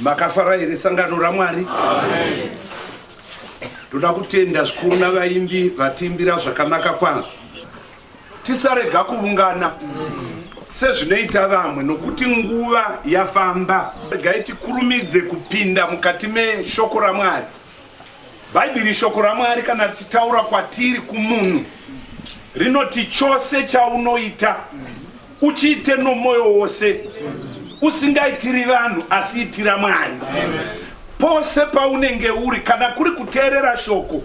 makafara here sangano ramwari toda kutenda zvikuru navaimbi vatiimbira zvakanaka kwazvo tisarega kuvungana sezvinoita vamwe nokuti nguva yafamba regai tikurumidze kupinda mukati meshoko ramwari Bhaibheri shoko raMwari kana richitaura kwatiri kumunhu rinoti chose chaunoita uchiite nomwoyo wose usingaitiri vanhu asi itira Mwari pose paunenge uri kana kuri kuteerera shoko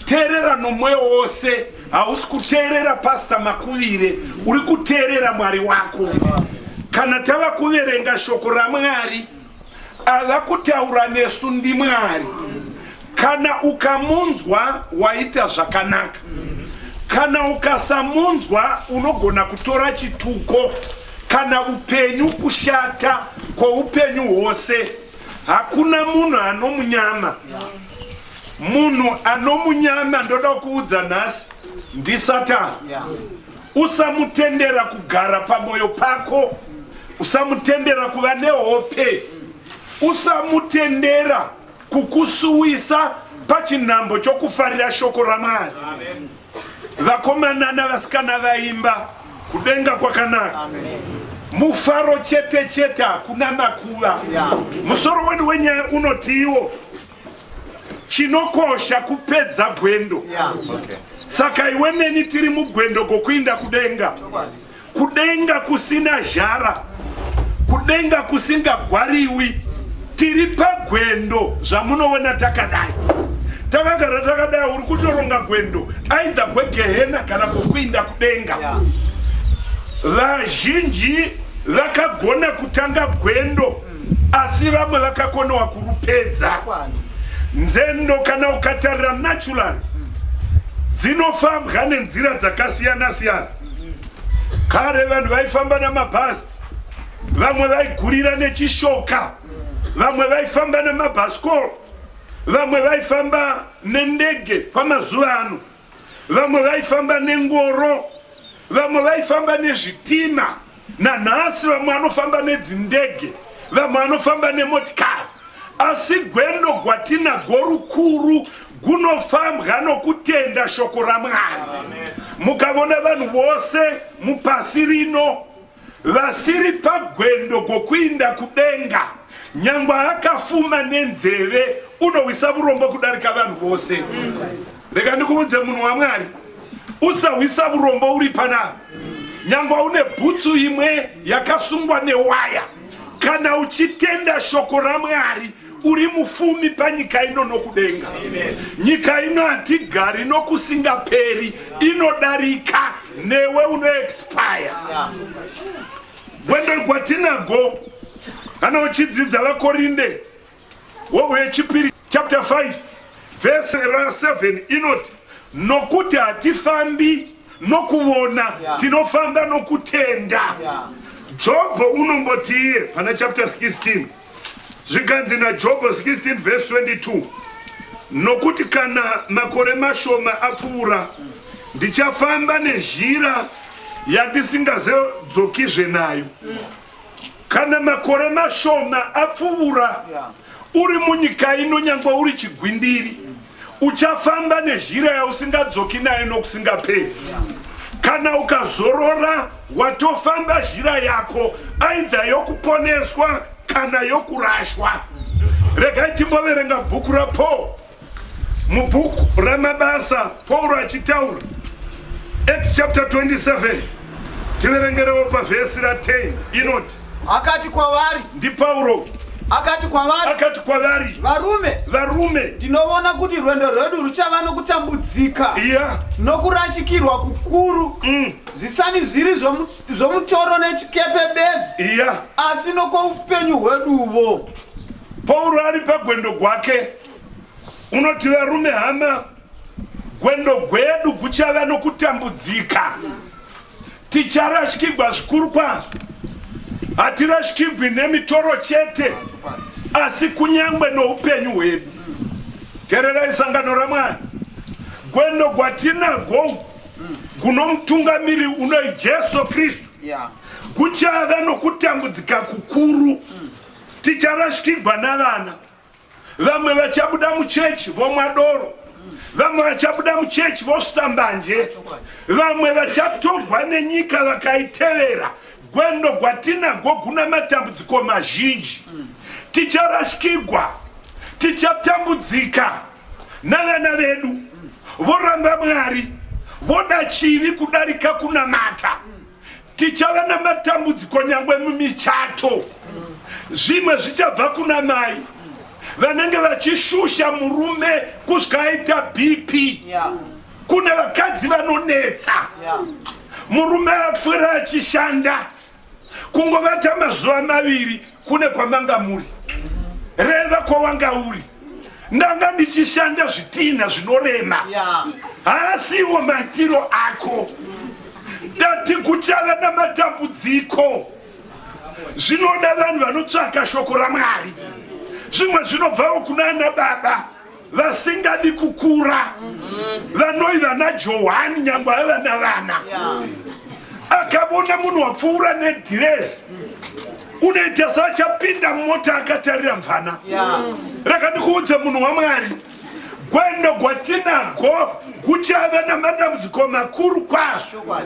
teerera nomwoyo wose hausi kuteerera pasta makuvire uri kuteerera Mwari wako kana tava kuverenga shoko raMwari Ava kutaura nesu ndiMwari. Kana ukamunzwa waita zvakanaka. Kana ukasamunzwa unogona kutora chituko kana upenyu kushata kwoupenyu hwose. Hakuna munhu anomunyama. Munhu anomunyama ndoda kuudza nhasi ndiSatani. Usamutendera kugara pamoyo pako, usamutendera kuva nehope, usamutendera kukusuwisa pachinhambo chokufarira shoko raMwari. Vakomana navasikana vaimba kudenga kwakanaka. Amen mufaro chete chete hakuna makuva musoro wedu wenyaya unotiiwo chinokosha kupedza gwendo saka iwe neni tiri mugwendo gokuinda kudenga kudenga kusina zhara kudenga kusingagwariwi tiri pagwendo zvamunoona takadai takagara takadai uri kutoronga gwendo aidha gwegehena kana kokuinda kudenga vazhinji vakagona kutanga gwendo asi vamwe vakakonewa kurupedza nzendo kana ukatarira natural dzinofambwa nenzira dzakasiyana siyana kare vanhu vaifamba namabhasi vamwe vaigurira nechishoka vamwe vaifamba nemabhasikoro vamwe vaifamba nendege kwamazuva ano vamwe vaifamba nengoro vamwe vaifamba nezvitima nanhasi vamwe anofamba nedzindege vamwe anofamba nemotikari asi gwendo gwatinago rukuru gunofambwa nokutenda shoko ramwari mukavona vanhu vose mupasi rino Vasiri pagwendo gokuinda kudenga nyangwe akafuma nenzeve unohwisa vurombo kudarika vanhu vose rega ndikuudze munhu wamwari usahwisa vurombo uri panaa nyangwe une bhutsu imwe yakasungwa newaya kana uchitenda shoko ramwari uri mufumi panyika ino nokudenga nyika ino hatigari nokusingaperi inodarika newe unoexpire gwendo gwatinago kana uchidzidza vakorinde wechipiri chapter 5 vhese ra7 inoti nokuti hatifambi nokuvona tinofamba nokutenda jobho unombotiye pana chapter 16 zvikanzi najobho 16 vhesi 22 nokuti kana makore mashoma apfuura ndichafamba nezhira yandisingazodzokizve nayo kana makore mashoma apfuura uri munyika ino nyangwe uri chigwindiri uchafamba nezhira yausingadzoki nayo nokusingaperi kana ukazorora watofamba zhira yako aidha yokuponeswa kana yokurashwa regai timboverenga bhuku rapaul mubhuku ramabasa pauro achitaura acts chapter 27 tiverengerewo pavhesi ra10 inoti Akati kwavari. NdiPauro. Akati kwavari. Akati kwavari. Varume. Varume. Ndinovona kuti rwendo rwedu ruchava nokutambudzika. Yeah. Nokurashikirwa kukuru. Mm. Zvisani zviri zvomutoro nechikepe bedzi. Yeah. Asi nokoupenyu hweduvo. Pauro ari pagwendo gwake unoti varume hama gwendo gwedu kuchava nokutambudzika. Mm. Ticharashikigwa zvikuru kwazvo. Hatirashikigwi nemitoro chete, asi kunyangwe noupenyu hwedu. Tererai sangano raMwari. Gwendo gwatinagwo guno mutungamiri unoi Jesu Kristu. Kuchava nokutambudzika kukuru. Ticharashikigwa navana. Vamwe vachabuda muchechi vomwa doro, vamwe vachabuda muchechi vosvita mbanje, vamwe vachatogwa nenyika vakaitevera. Gwendo gwatinagwo guna matambudziko mazhinji. Ticharashikigwa, tichatambudzika navana vedu voramba Mwari, voda chivi kudarika kunamata. Tichava namatambudziko nyangwe mumichato. Zvimwe zvichabva kuna mai vanenge vachishusha murume kusvika aita BP. Kune vakadzi vanonetsa. Murume apfuura achishanda kungovata mazuva maviri kune kwamanga muri reva kwawanga uri ndanga ndichishanda zvitinha zvinorema haasiwo maitiro ako tati kuchava namatambudziko zvinoda vanhu vanotsvaka shoko ramwari zvimwe zvinobvawo kuna ana baba vasingadi kukura vanoi vana johani nyangwe ave vana vana akavona munhu wapfuura nedhiresi unoita saachapinda mumota akatarira mvana rakandikuudza munhu wamwari gwendo gwatinago guchave namadambudziko makuru kwazvo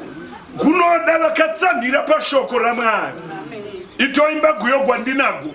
gunoda vakatsamhira pashoko ramwari itoimba guyo gwandinago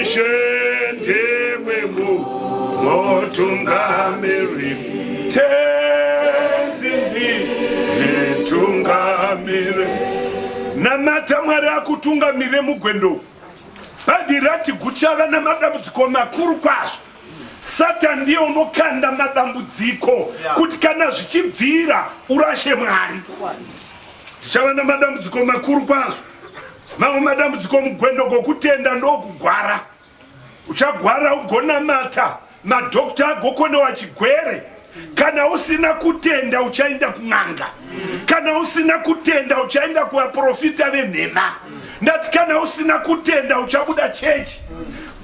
Ishe ndiwe mutungamiri tenzi nditungamire namata mwari akutungamire mugwendo bhadhi rati guchava namadambudziko makuru kwazvo satani ndiye unokanda madambudziko kuti kana zvichibvira urashe mwari tichava namadambudziko makuru kwazvo Mamwe madambudziko mugwendo gokutenda ndokugwara. Uchagwara ugonamata madhokta agokonewa chigwere. Kana usina kutenda uchaenda kun'anga. Kana usina kutenda uchaenda kuvaprofita venhema. Ndati kana usina kutenda uchabuda chechi.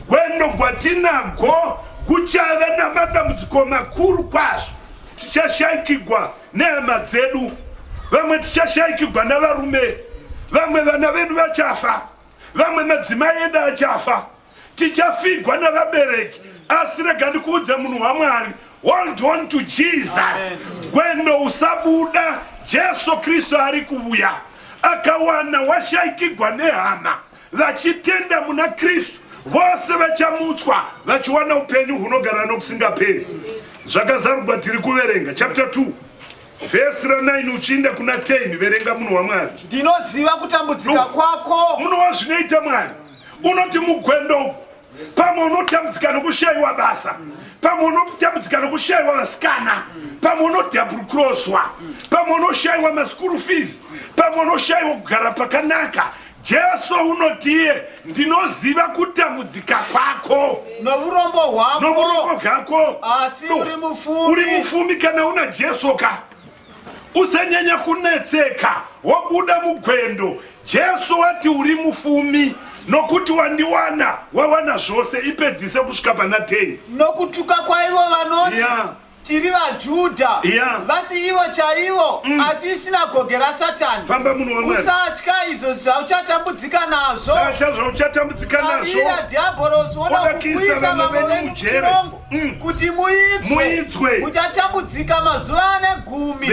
Gwendo gwatinago kuchava namadambudziko makuru kwazvo. Tichashaikigwa nehama dzedu vamwe tichashaikigwa navarume vamwe vana vedu vachafa vamwe madzimai edu achafa tichafigwa navabereki asi rega ndikuudza munhu wamwari hold on to jesus gwendo usabuda jesu kristu ari kuuya akawana washaikigwa nehama vachitenda muna kristu vose vachamutswa vachiwana upenyu hunogara nokusingaperi zvakazarugwa tiri kuverenga chapter 2 vhesi ra9 uchiinda kuna 10 verenga munhu wamwari ndinoziva kutambudzika kwako munhu wazvinoita mwari unoti mugwendo uku pamwe unotambudzika nokushaiwa basa pamwe unotambudzika nokushaiwa vasikana pamwe unodabrukroswa pamwe unoshaiwa maskuru fees pamwe unoshaiwa kugara pakanaka jesu unotiye ndinoziva kutambudzika kwako nourombo hwako asi uri mufumi kana una jesu ka Usanyanya kunetseka, wobuda mugwendo. Jesu wati uri mufumi nokuti wandiwana, wawana zvose, ipedzise kusvika pana 10. Nokutuka kwaivo vanoti yeah. tiri vaJudha yeah. vasi ivo chaivo mm. asi isinagoge raSatani. Famba munhu waMwari. Usatya izvo zvauchatambudzika nazvo. Usatya zvauchatambudzika nazvo. Sabira dhiabhorosi woda kukuisa vamwe venyu muchirongo. Mm. kuti muitswe uchatambudzika mazuva ane gumi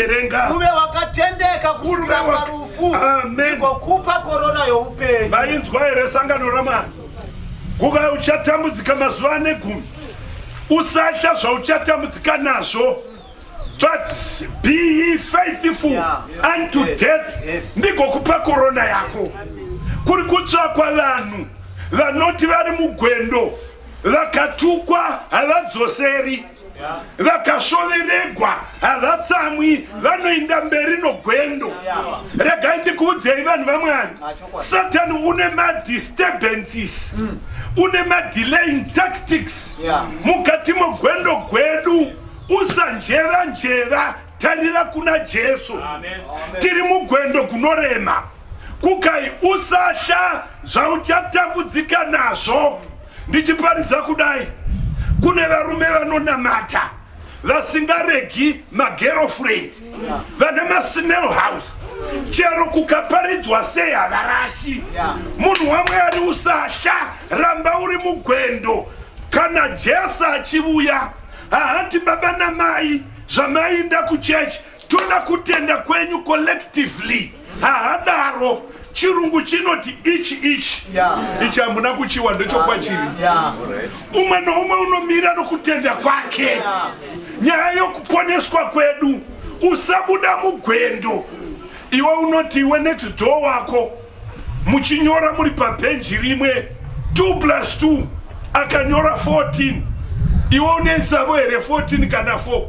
uve wakatendeka kusvikira parufu igokupa korona youpenyu mainzwa here sangano ramwari kuva uchatambudzika mazuva ane gumi usatya zvauchatambudzika nazvo but be ye faithful yeah. unto yes. death yes. ndigokupa korona yako yes. kuri kutsvakwa vanhu vanoti vari mugwendo vakatukwa havadzoseri vakashoveregwa havatsamwi vanoinda mberi nogwendo regai ndikuudzei vanhu vamwari satani une madisturbances mm. une madelaying tactics mukati mogwendo gwedu usanjeva njeva tarira kuna jesu tiri mugwendo gunorema Kukai usatya zvauchatambudzika nazvo. Ndichiparidza kudai, kune varume vanonamata vasingaregi magerofriend vane masmell house chero kukaparidzwa sei havarashi munhu wamwari usatya ramba uri mugwendo kana jesu achivuya hahati baba namai zvamainda kuchechi toda kutenda kwenyu collectively haadaro chirungu chinoti ichi ichi ichi hamuna kuchiwa ndochokwachiri umwe noumwe unomira nokutenda kwake nyaya yokuponeswa kwedu usabuda mugwendo iwe unoti iwe next door wako muchinyora muri pabhenji rimwe 2 plus 2 akanyora 14 iwe une nsavo here 14 kana 4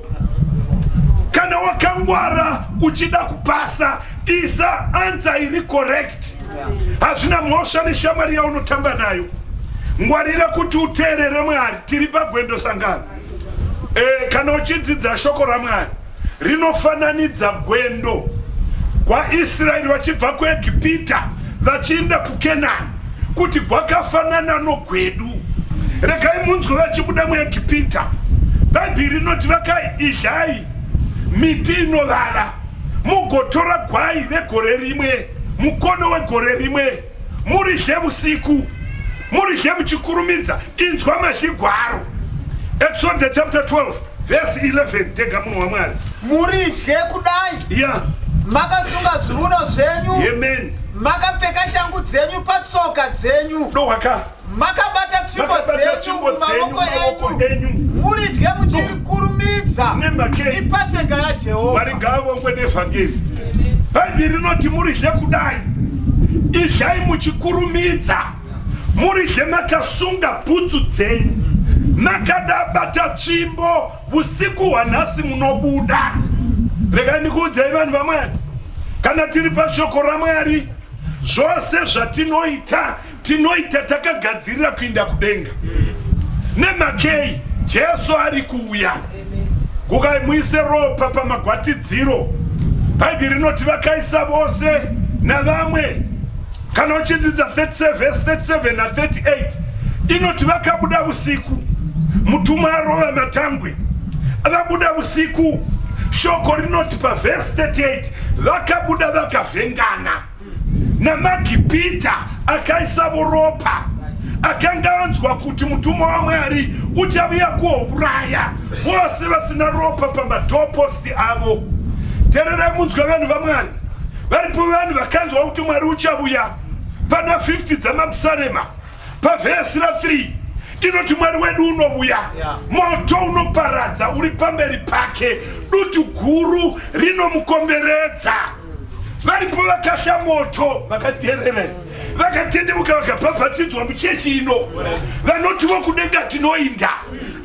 kana wakangwara uchida kupasa isa ansa iri correct hazvina mhosva neshamwari yaunotamba nayo ngwarira kuti uteerere mwari tiri pagwendo sangano e, kana uchidzidza shoko ramwari rinofananidza gwendo gwaIsraeri vachibva kuEgipita vachiinda kuKenani kuti gwakafanana nogwedu. Regai munzwe vachibuda muEgipita. Bhaibheri rinoti vakaidlai miti inovava mugotora gwai vegore rimwe mukono wegore rimwe muridle vusiku muridle muchikurumidza inzwa mazhigwaro Exodus chapter 12 Verse 11 tega munhu waMwari. Muridye kudai. Yeah. Makasunga zvivuno zvenyu. Amen. Makapfeka shangu dzenyu patsoka dzenyu. Dohwaka. Makabata tsvimbo dzenyu mumawoko enyu. Muridye muchirikurumidza. Nemake. Ipaseka yaJehovha. Mwari ngaavongwe nevhangeri. Bhaibheri rinoti muridye kudai. Idyai muchikurumidza. Muridhe makasunga bhutsu dzenyu makada bata tsvimbo usiku hwanhasi munobuda. Rega ndikuudzai vanhu vamwari, kana tiri pashoko raMwari zvose zvatinoita tinoita takagadzirira kuinda kudenga. Nemakei Jesu ari kuuya. Gukai muise ropa pamagwatidziro. Bhaibheri rinoti vakaisa vose navamwe. Kana uchidzidza 37 verse 37 na 38 inoti vakabuda usiku, mutumwa arova matangwe, vabuda usiku. Shoko rinoti pavhesi 38 vakabuda vakavhengana. namagipita akaisavo ropa akanga anzwa kuti mutumwa wamwari uchaviya kuouraya vose vasina ropa pamadoposti avo tererai munzwa vanhu vamwari varipo vanhu vakanzwa kuti mwari uchavuya pana 50 dzamapsarema pavhesi ra 3 inoti mwari wedu unovuya moto unoparadza uri pamberi pake dutu guru rinomukomberedza varipo vakasha moto vakaterere vakatendeuka vakabhabhatidzwa muchechi ino vanotivo kudenga tinoinda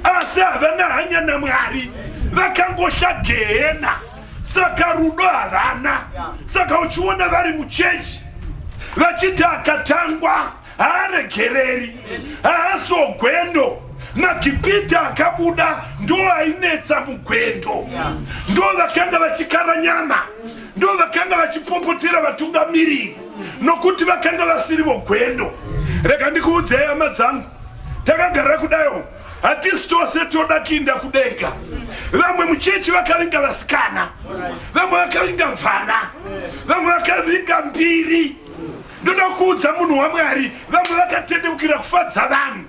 asi havana hanya namwari vakangosha gehena saka rudo havana saka uchiona vari muchechi vachiti akatangwa haaregereri haasogwendo magipita akabuda ndo ainetsa mugwendo ndo vakanga vachikara nyama ndo vakanga vachipopotera vatungamiriri nokuti vakanga vasiri vogwendo rega ndikuudzei hama dzangu takagara kudayo hatisi tose toda kuinda kudenga vamwe muchechi vakavinga vasikana vamwe vakavinga mvana vamwe vakavinga mbiri ndoda kuudza munhu wamwari vamwe vakatendeukira kufadza vanhu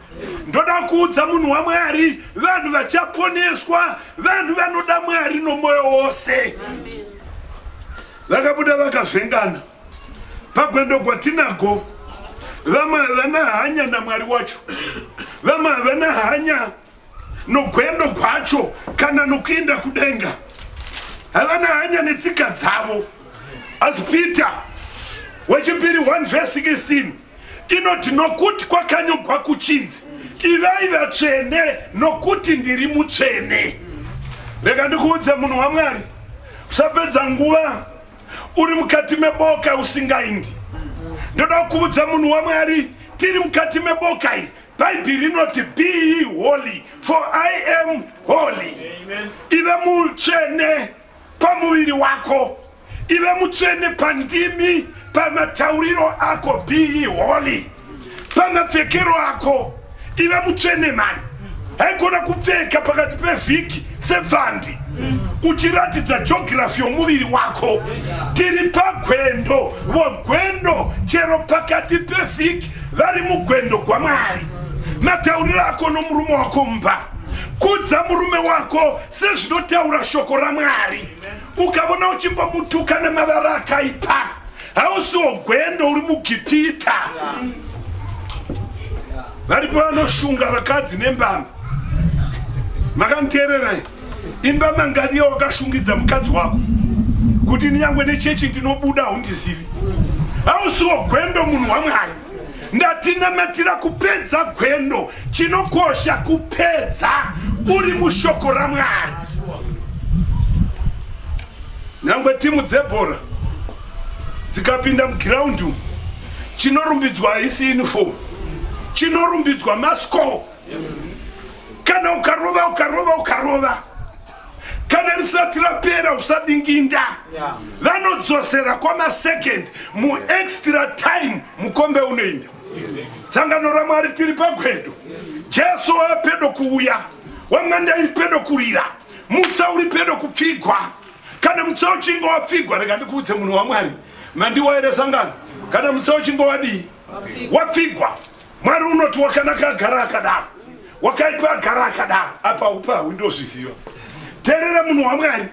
ndoda kuudza munhu wamwari vanhu vachaponeswa vanhu vanoda mwari nomwoyo wose vakabuda vakazvengana pagwendo gwatinago vamwe havana hanya namwari wacho vamwe havana hanya nogwendo gwacho kana nokuinda kudenga havana hanya netsika dzavo asi peter wechipiri 1 vese 16 inoti nokuti kwakanyogwa kuchinzi ivai vatsvene nokuti ndiri mutsvene rega ndikuudze munhu wamwari usapedza nguva uri mukati meboka usingaindi ndoda kuudza munhu wamwari tiri mukati meboka iyi Bhaibheri rinoti be ye holy for I am holy. Ive mutsvene pamuviri wako, ive mutsvene pandimi, pamatauriro ako, be ye holy. Pamapfekero ako, ive mutsvene mani. Haigona kupfeka pakati pevhiki Sebvandi uchiratidza jogirafi yomuviri wako tiri pagwendo vogwendo chero pakati pevhiki vari mugwendo gwamwari matauriro ako nomurume wako mumba kudza murume wako sezvinotaura shoko ramwari ukavona uchimbomutuka nemavara akaipa hausiwo gwendo uri mugipita varipo vanoshunga vakadzi nembama makanteererai imba mangani yawakashungidza mukadzi wako kuti ndinyangwe nechechi ndinobuda haundizivi hausiwo gwendo munhu wamwari Ndatinamatira kupedza gwendo, chinokosha kupedza uri mushoko raMwari. Nyangwe timu dzebhora dzikapinda mugiraundi umu, chinorumbidzwa haisi uniform, chinorumbidzwa mascore. Kana ukarova ukarova ukarova kana risati rapera usadinginda vanodzosera kwamasecond muextra time mukombe unoinda sangano ramwari tiri pagwedo jesu wapedo kuuya wamwanda iri pedo kurira mutsa uri pedo kupfigwa kana mutsa uchinge wapfigwa rega ndikuudze munhu wamwari mandiwa ere sangano kana mutsa uchinge wadii wapfigwa Mwari unoti wakanaka agara akadaro, wakaipa agara akadaro. Apa upahu ndozviziva. Terera munhu waMwari,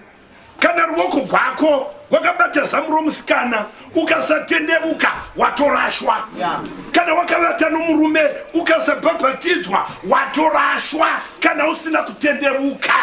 kana ruoko rwako wakabata zamu romusikana ukasatendevuka watorashwa kana wakavata nomurume ukasabhabhatidzwa watorashwa kana usina kutendevuka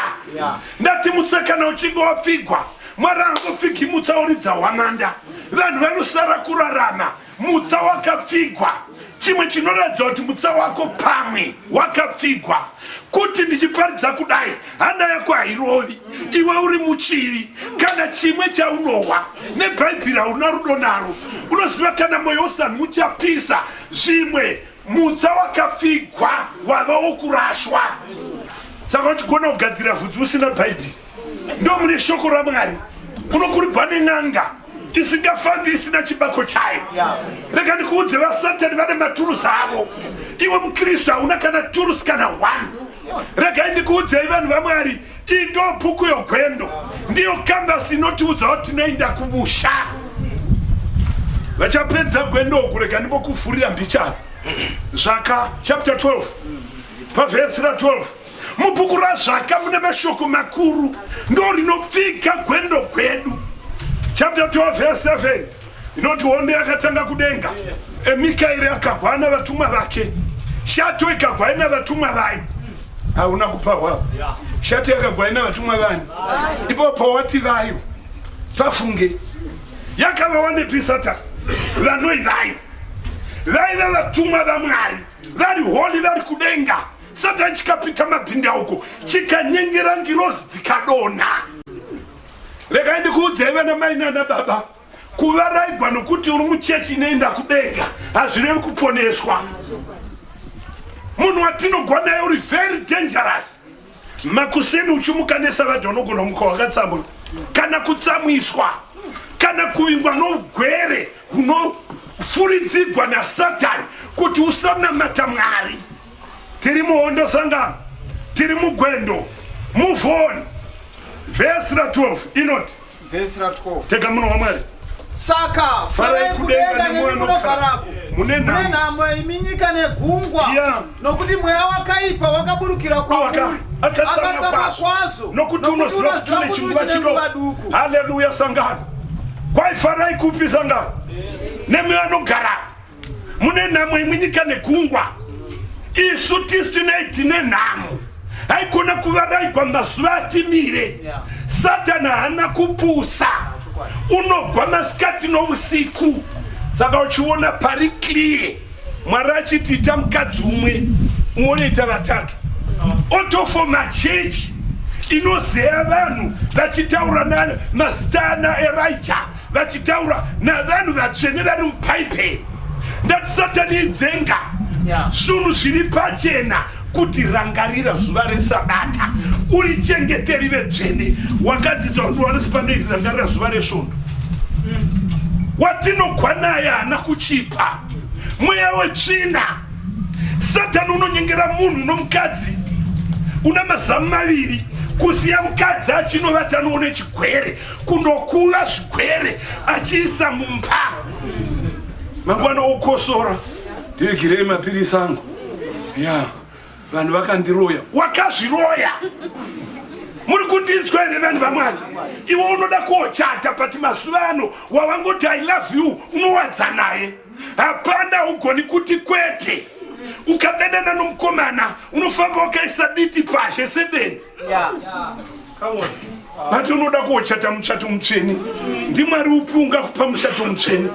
ndati mutsa kana uchinge wapfigwa mwari angopfigimutsa uridza hwananda vanhu vanosara kurarama mutsa wakapfigwa chimwe chinoratidza kuti mutsa wako pamwe wakapfigwa kuti ndichiparidza kudai hana yako hairovi iwe uri muchivi kana chimwe chaunohwa nebhaibheri hauna rudo naro unoziva kana mwoyo usani muchapisa zvimwe mutsa wakapfigwa wava wokurashwa saka uchigona kugadzira vhudzi usina bhaibheri ndo mune shoko ramwari unokurigwa nen'anga isingafambi isina chibako chayo rega ndikuudze vasatani vane maturusi avo iwe mukristu hauna kana turusi kana one regai ndikuudzei vanhu vamwari iyi ndo bhuku yogwendo ndiyo kambasi inotiudza kuti tinoenda kumusha vachapedza gwendo uku rega ndimokuvhurira mbichana zvaka chapter 12 pavhesi ra 12 Mubhuku raZvaka mune mashoko makuru ndo rinopfika gwendo gwedu. Chapter 12 verse 7 inoti hondo yakatanga kudenga, eMikaeri akagwa ana vatumwa vake, shato ikagwa ina vatumwa vayo. Hauna kupa hwavo, shato yakagwa ina vatumwa vani? Ipo pawati vayo, pafunge yakava wanepi Satani? Vanoi vayo vaiva vatumwa vaMwari vari holi vari kudenga satani chikapita mabhindauko chikanyengera ngirozi dzikadonha regai ndikuudzai vana mai nana baba kuvaraigwa nokuti uri muchechi inoenda kudenga hazvirevi kuponeswa munhu watinogwa naye uri very dangerous makuseni uchimuka nesavadhi unogona kumuka wakatsamwa kana kutsamwiswa kana kuvingwa nougwere hunofuridzigwa nasatani kuti usanamata mwari tiri muhondo sangano tiri mugwendo move on vhesi ra 12 inoti vhesi ra 12 tega muno wamwari saka farai kudenga nemi munogarako mune nhamo imi nyika negungwa nokuti mweya wakaipa wakaburukira kwauri akatsama kwazvo nokuti unoziva kuti une chinguva chidoku haleluya sangano kwaifarai kupi sangano nemi vanogarako mune nhamo imwe nyika nekungwa isu tisu tinei tine nhamo haigona kuvaraigwa mazuva atimire satani haana kupusa unogwa masikati nousiku saka uchiona pari clear mwari achiti ita mukadzi umwe umwe unoita vatatu otofo machechi inozeya vanhu vachitaura na mazita ana erija vachitaura navanhu vatsvene vari mupaiperi ndati satani idzenga zvinhu zviri pachena kuti rangarira zuva resabata uri chengeteri vetsvene wakadzidza kuti wanesi panei rangarira zuva resvondo watinokwanai haana kuchipa mweya wetsvina satani unonyengera munhu nomukadzi una mazamu maviri kusiya mukadzi achinovata noone chigwere kundokuva zvigwere achiisa mumba mangwana okosora ndiigirei mapirisi angu ya vanhu vakandiroya wakazviroya muri kundinzwa here vanhu vamwari iwe unoda koochata but mazuva ano wawangoti i love you unowadza naye hapana ugoni kuti kwete ukadanana nomukomana unofamba wakaisa diti pazhe sebenzi yeah. yeah. vati unoda kuochata muchato mutsvene ndimwari upi ungakupa muchato mutsvene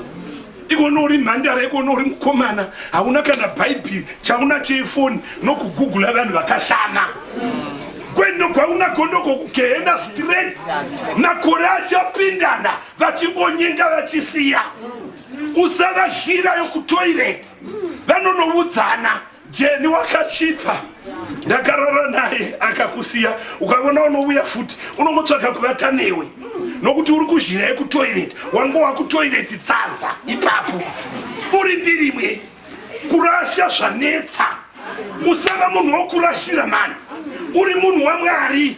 ikona uri mhandara ikona uri mukomana hauna kana bhaibheri chaunacho ifoni nokugugula vanhu vakashama kwendo kwaunako ndokokugehena straight makore achapindana vachingonyenga vachisiya usavashira yokutoireti vanonoudzana Jeni wakachipa ndakarara naye akakusiya ukavona unouya futi unongotsvaga kuvata newe nokuti uri kuzhira yekutoireti wango wakutoireti tsanza ipapo uri ndirimwe kurasha zvanetsa usava munhu wokurashira mani uri munhu wamwari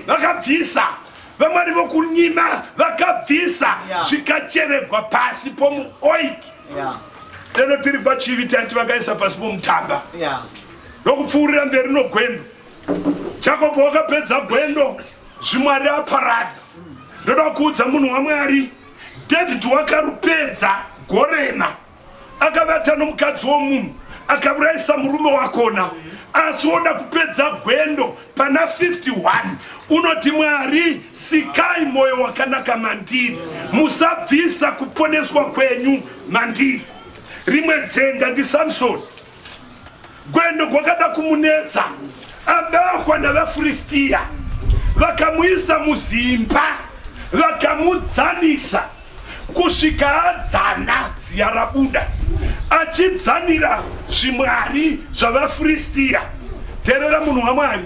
vakabvisa vamwari vokunyima vakabvisa zvikacheregwa pasi pomuoiki deno tiri pachivi tanti vakaisa pasi pomutamba ndokupfuurira mberi nogwendo jakobo wakapedza gwendo zvimwari aparadza ndoda kuudza munhu wamwari david wakarupedza gorema akavata nomukadzi womunhu akaurayisa murume wakona asi woda kupedza gwendo pana 51 unoti mwari sikai mwoyo wakanaka mandiri musabvisa kuponeswa kwenyu mandiri rimwe dzenga ndisamsoni gwendo gwakada kumunetsa abahwa navafiristiya vakamuisa muzimba vakamudzanisa kusvika adzana ziya rabuda achidzanira zvimwari zvavafiristiya teerera munhu wamwari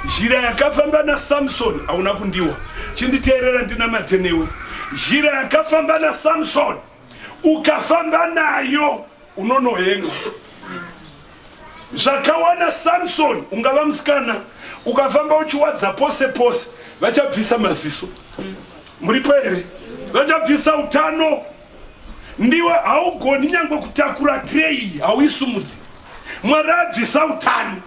zhira yakafamba nasamsoni hauna kundiwa chinditeerera ndinamatenewe zhira yakafamba nasamsoni ukafamba nayo unonohenga zvakawana samson ungava musikana ukafamba uchiwadza pose pose vachabvisa maziso muripo here vachabvisa utano ndiwe haugoni nyangwe kutakura trei hauisumudzi mwari abvisa utano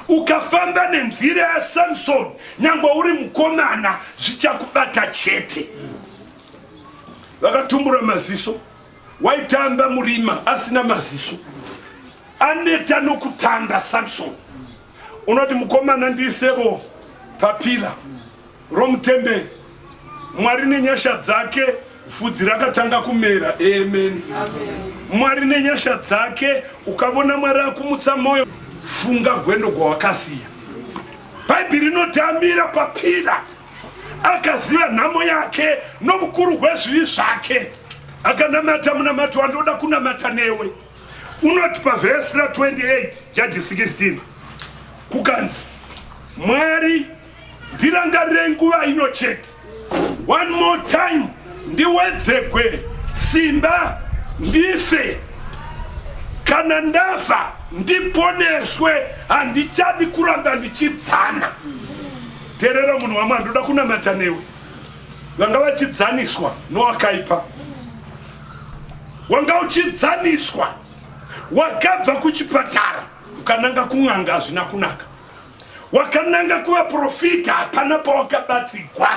ukafamba nenzira yasamson nyangwe uri mukomana zvichakubata chete vakatumbura maziso waitamba murima asina maziso aneta nokutanda samson unoti mukomana ndiisevo papira romutemberi mwari nenyasha dzake fudzi rakatanga kumera amen mwari nenyasha dzake ukavona mwari akumutsa mwoyo funga gwendo gwawakasiya bhaibheri rinotamira papira akaziva nhamo yake noukuru hwezvivi zvake akanamata munamato wandoda kunamata newe unoti pavhesi ra28 jaji 16 kukanzi mwari ndirangarire nguva ino chete one more time ndiwedzegwe simba ndife kana ndafa ndiponeswe handichadi kuramba ndichidzana Terera munhu wamwari ndoda kunamata newe vanga vachidzaniswa nowakaipa wanga uchidzaniswa wakabva kuchipatara ukananga kun'anga hazvina kunaka wakananga kuvaprofita hapana pawakabatsigwa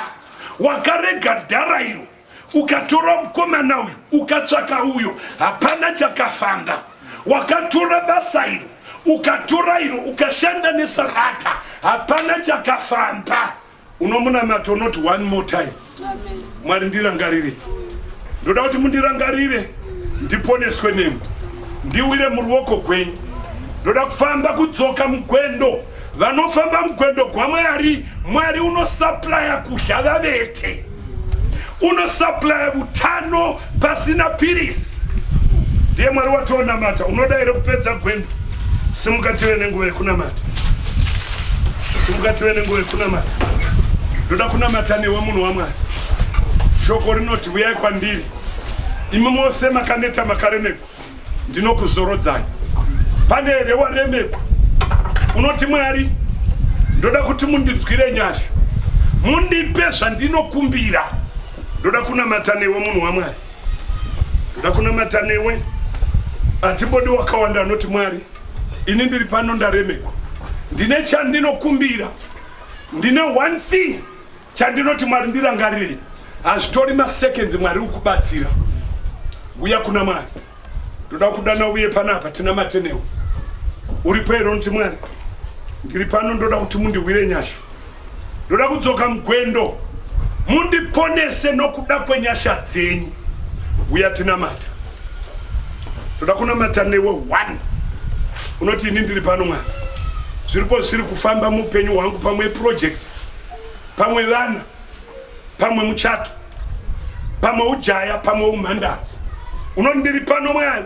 wakarega dhara iro Ukatora mukomana uyu ukatsvaka uyo, hapana chakafamba. Wakatora basa iro ukatora iro ukashanda nesabata, hapana chakafamba. Unomunamata unoti one more time, Mwari ndirangarire, ndoda kuti mundirangarire, ndiponeswe nemi, ndiwire muruoko gwenyu, ndoda kufamba kudzoka mugwendo vanofamba mugwendo gwamwari mwari unosaplaya kudya vavete unosaplaya utano pasina pirisi ndiye mwari wationamata unoda here kupedza gwendo simukative nenguva yekunamata simukative nenguva yekunamata ndoda kunamata newe munhu wamwari shoko rinoti uyai kwandiri imi mose makaneta makaremerwa ndinokuzorodzai pane here waremekwa unoti mwari ndoda kuti mundinzwire nyasha mundipe zvandinokumbira ndoda kunamata newe munhu wamwari ndoda kunamata newe hatibodi wakawanda anoti mwari ini ndiri pano ndaremekwa ndine chandinokumbira ndine one thing Chandinoti Mwari ndirangarirei. Hazvitori maseconds Mwari ukubatsira. Uya kuna Mwari. Ndoda kudana uye panapa tina matenewo. Uripo here unoti Mwari? Ndiri pano ndoda kuti mundiwire nyasha. Ndoda kudzoka mugwendo. Mundiponese nokuda kwenyasha dzenyu. Uya tinamata. Ndoda kunamata newe one. Unoti ini ndiri pano Mwari. Zviripo zviri kufamba mupenyu hwangu pamwe project. pamwe vana pamwe muchato pamwe ujaya pamwe umhandara unondiri pano mwari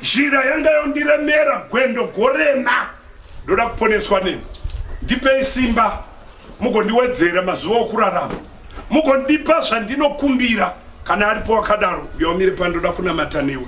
zhira yanga yondiremera gwendo gorema ndoda kuponeswa nemi ndipei simba mugondiwedzera mazuva okurarama mugondipa zvandinokumbira kana aripo wakadaro uyaumire pandoda kunamata newe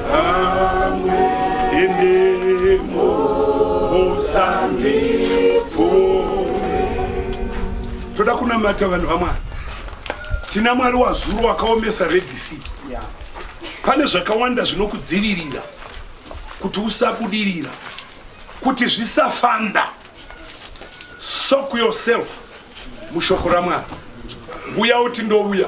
toda kunamata vanhu vamwari tina mwari wazuro wakaomesa redc pane zvakawanda zvinokudzivirira kuti usabudirira kuti zvisafanda soak yourself mushoko ramwari uya uti ndouya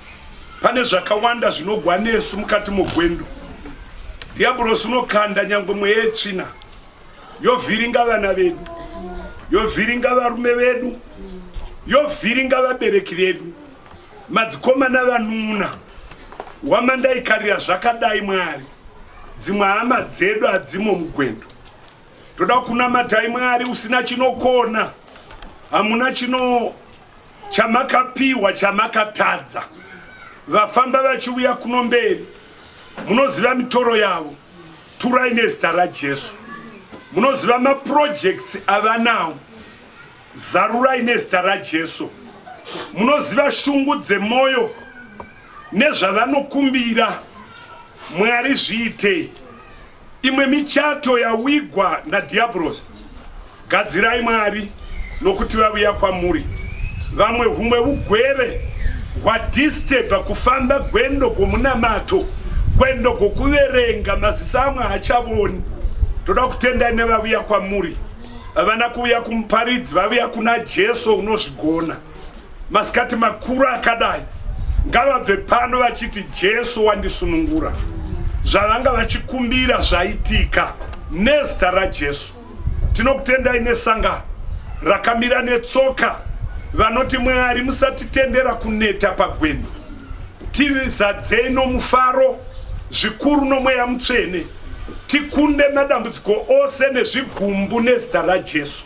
Pane zvakawanda zvinogwa nesu mukati mogwendo. Dhiyabhurosi unokanda nyangwe mweya yetsvina yovhiringa vana vedu, yovhiringa varume vedu, yovhiringa vabereki vedu, madzikoma navanun'una. Wamandaikarira zvakadai Mwari, dzimwe hama dzedu hadzimo mugwendo. Toda kunamatai Mwari usina chinokona, hamuna chino chamakapiwa chamakatadza vafamba vachiuya kuno mberi munoziva mitoro yavo turai nezita rajesu munoziva maprojects avanawo zarurai nezita rajesu munoziva shungu dzemwoyo nezvavanokumbira mwari zviitei Imwe michato yawigwa naDhiabhorosi. Gadzirai Mwari, nokuti vaviya kwamuri vamwe humwe ugwere hwadisturba kufamba gwendo gwomunamato, gwendo gwokuverenga maziso amwe haachavoni. Toda kutendai nevaviya kwamuri, vavana kuviya kumuparidzi, vaviya kuna Jesu unozvigona. Masikati makuru akadai ngavabve pano vachiti Jesu wandisunungura. Zvavanga vachikumbira zvaitika nezita raJesu. Tinokutendai nesangano rakamira netsoka vanoti Mwari musatitendera kuneta pagwendo. Tizadzei nomufaro zvikuru nomweya mutsvene tikunde madambudziko ose nezvigumbu nezita raJesu.